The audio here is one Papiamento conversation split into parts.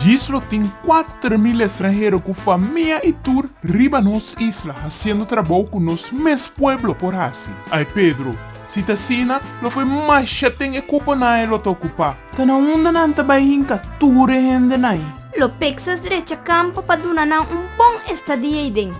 Djis lo tin kuater mil estranhero ku famia i tur riba nos isla hasiendo trabou ku nos mes pueblo por hasi. Ai Pedro, si ta asina lo fue masha ten e kuponan e lo ta okupá. Ta na unda nan ta bai hinka tur e hende nai. Lo pekses drecha kampo pa duna nan un bon estadia ei den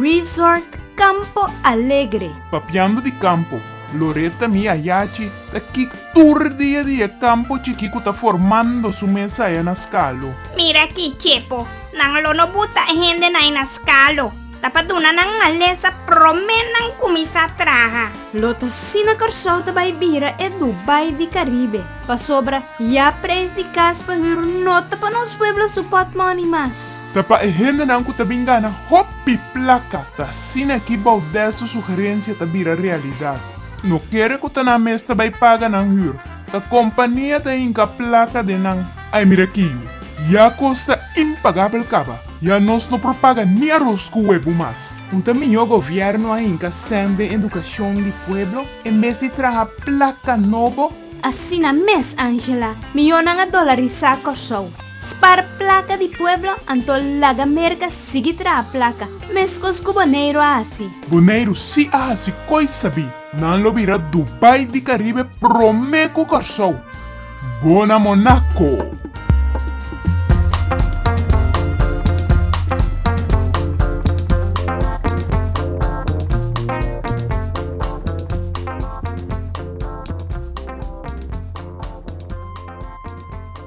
Resort Campo Alegre. Papiando di kampo, Loretta mi a yachi ta ki tur dia di e campo chiki cu ta formando su mes aya na Scalo. Mira aki Chepo, nan lo no buta e hendenan na Scalo, ta pa duna nan malesa prome nan cuminsa traha. Lo ta asina Corsou ta bay bira e Dubai di Caribe, pasobra ya prijs di cas pa hür no ta pa nos pueblo su pot money mas. Ta pa e hendenan ku ta bin gana hopi plaka ta asina ki Baudel su sugerencia ta bira realidad. No kere ku ta nan mes ta bai paga nan hür, ta kompania ta hinka plaka den nan. Ai mira aki yu, ya kos ta impagabel kaba, ya nos no por paga ni aros ku webu mas. No ta mihó gobièrnu a hinka sèn den edukashon di pueblo en bes di traha plaka nobo? Asina mes Angela, miónan a dolarisá Kòrsou. Spar plaka di pueblo anto laga Merka sigui traha plaka, meskos ku Boneiru a hasi. Boneiru si a hasi koisa bi, nan lo bira Dubai di Karibe promé ku Kòrsou. Bona Monako!